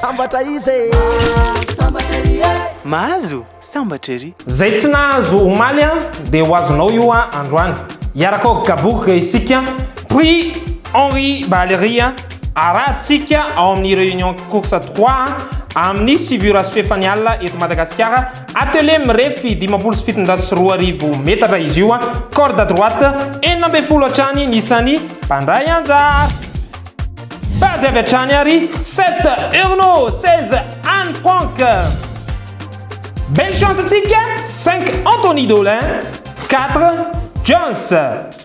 Sambatra izy e! Mahazo sambatra ery e! Mahazo sambatra ery! Zay tsy nahazo omaly an dia ho azonao io an androany. Hiaraka ao Gabourg isika. Prix Henri Balery an. Arahantsika ao amin'ny Réunion Course trois an, amin'ny Sivy Ora sy Fefany Alina eto Madagasikara. Atelier mirefy dimampolo sy fitonjato sy roa arivo metatra izy io, corde à droite enina ambin'ny folo hatrany ny isan'ny mpandray anjara. Base avy hatrany ary 7 Urno 16 Anne Frank. Belle chance antsika 5 Anthony Dolin 4 Jones.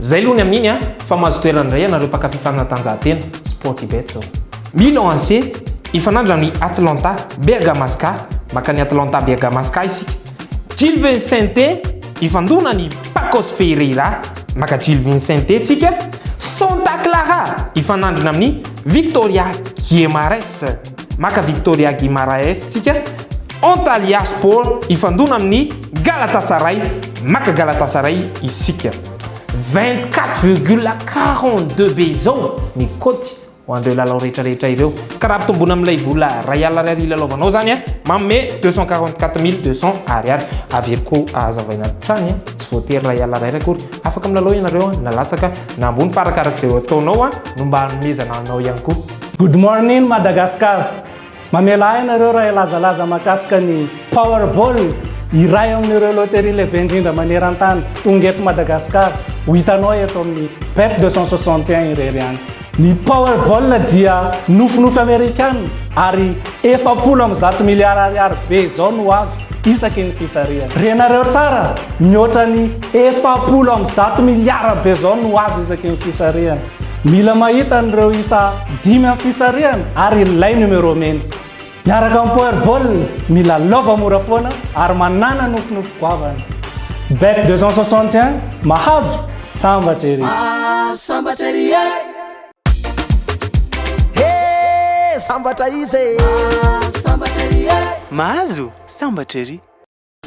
Zay aloha ny amin'iny a! Fa mahazo toerana indray ianareo mpakafy fanatanjahantena, Sportybet zao. Milan AC hifanandrina amin'ny Atlanta Bergamasca, maka an'i Atlanta Bergamasca isika. Gil Vicente hifandona an'i Pacos Ferreira, maka Gil Vicente tsika. Santa Clara hifanandrina amin'ny Victoria Guimares. Maka Victoria Guimaraes tsika Antalya Sport hifandona amin'ny Galatasaray, maka Galatasaray isika. 24,42 be izao ny cote ho an'ireo lalao rehetra rehetra ireo. Ka raha ampitomboina amin'ilay vola iray alina ariary ilalaovanao izany a, manome 244200 ariary. Averiko ahazavaina hatrany a, tsy voatery iray alina ariary akory, afaka milalao ianareo na latsaka na ambony fa arakaraky izay ataonao a, no mba hanomezana anao ihany koa. Good morning Madagascar! Mamela ahy ianareo raha hilazalaza mahakasika ny Powerball, iray amin'ireo loterie lehibe indrindra maneran-tany. Tonga eto Madagasikara, ho hitanao eto amin'ny Bet 261 irery ihany. Ny Powerball dia nofinofy Amerikana ary efapolo amby zato miliara ariary be izao no azo isaky ny fisarihana. Renareo tsara, mihoatra ny efapolo amby zato miliara be izao no azo isaky ny fisarihana. Mila mahita an'ireo isa dimy amin'ny fisarihana ary ilay numéro mena. Miaraka amin'ny Powerball, mila lova mora foana ary manàna nofinofy goavana. Bet 261, mahazo, sambatra ery! Ah, sambatra ery e! He, sambatra iza e! Ah, sambatra ery e! Mahazo, sambatra ery!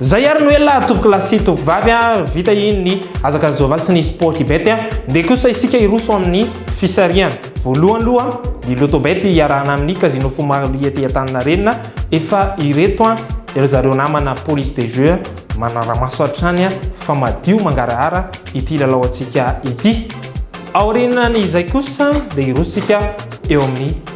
Zay ary noela tompokolahy sy tompovavy a, vita iny ny azaka Zovaly sy ny Sportybet a, ndeha kosa isika hiroso amin'ny fisarihana. Voalohany loha ny Lotobet hiarahana amin'ny Casino Fumari ety Antaninarenina, efa ireto a, ry zareo namana Police des jeux manaramaso hatrany a, fa madio mangarahara ity lalao antsika ity. Aorianan'izay kosa dia hiroso isika eo amin'ny.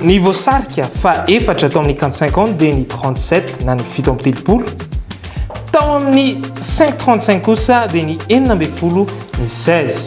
Ny voasarika fa efatra tao amin'ny quinte cinq ans dia ny trente sept na ny fito amby telopolo. Tao amin'ny cinq trente cinq kosa dia ny enina ambin'ny folo ny seize.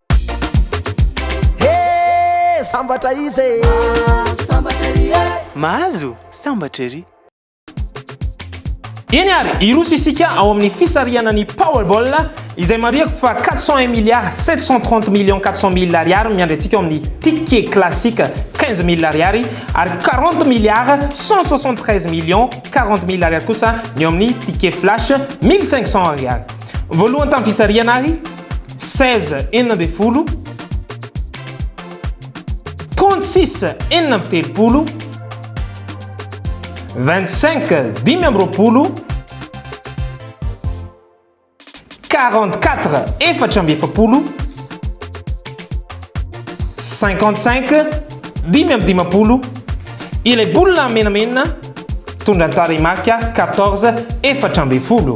Hee sambatra izy e! Mahazo sambatra ery e! Mahazo sambatra ery! Eny ary, hiroso isika ao amin'ny fisarihana ny Powerball izay marihako fa 401 milliards 730 millions 400 mille ariary miandry antsika ao amin'ny ticket classique 15 mille ariary ary 40 milliards 173 millions 40 mille ariary kosa ny ao amin'ny ticket flash 1500 ariary. Voalohany tamin'ny fisarihana ary Seize, enina ambin'ny folo. Trente-six, enina amby telopolo. Vingt-cinq, dimy amby roapolo. Quarante-quatre, efatra amby efapolo. Cinquante-cinq, dimy amby dimampolo. Ilay boule menamena, tondra ny tarehimarika quatorze, efatra ambin'ny folo.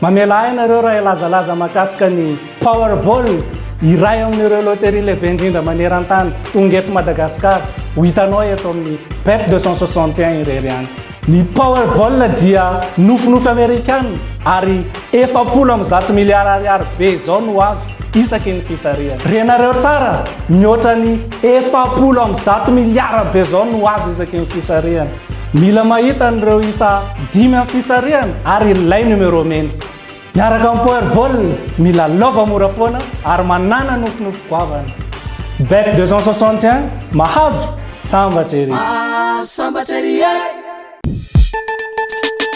Mamelà ahy nareo raha hilazalaza mahakasika ny Powerball, iray amin'ireo loterie lehibe indrindra maneran-tany, tonga eto Madagasikara, ho hitanao eto amin'ny Bet 261 irery ihany. Ny Powerball dia nofinofy Amerikana ary efapolo amby zato miliara ariary be izao no azo isaky ny fisarihana. Renareo tsara, mihoatra ny efapolo amby zato miliara be izao no azo isaky ny fisarihana. Mila mahita an'ireo isa dimy amin'ny fisarihana ary ilay numéro mena. Miaraka amin'ny Powerball, milalaova mora foana ary manàna nofinofy goavana. Bet 261, mahazo sambatra ery! Mahazo sambatra ery e!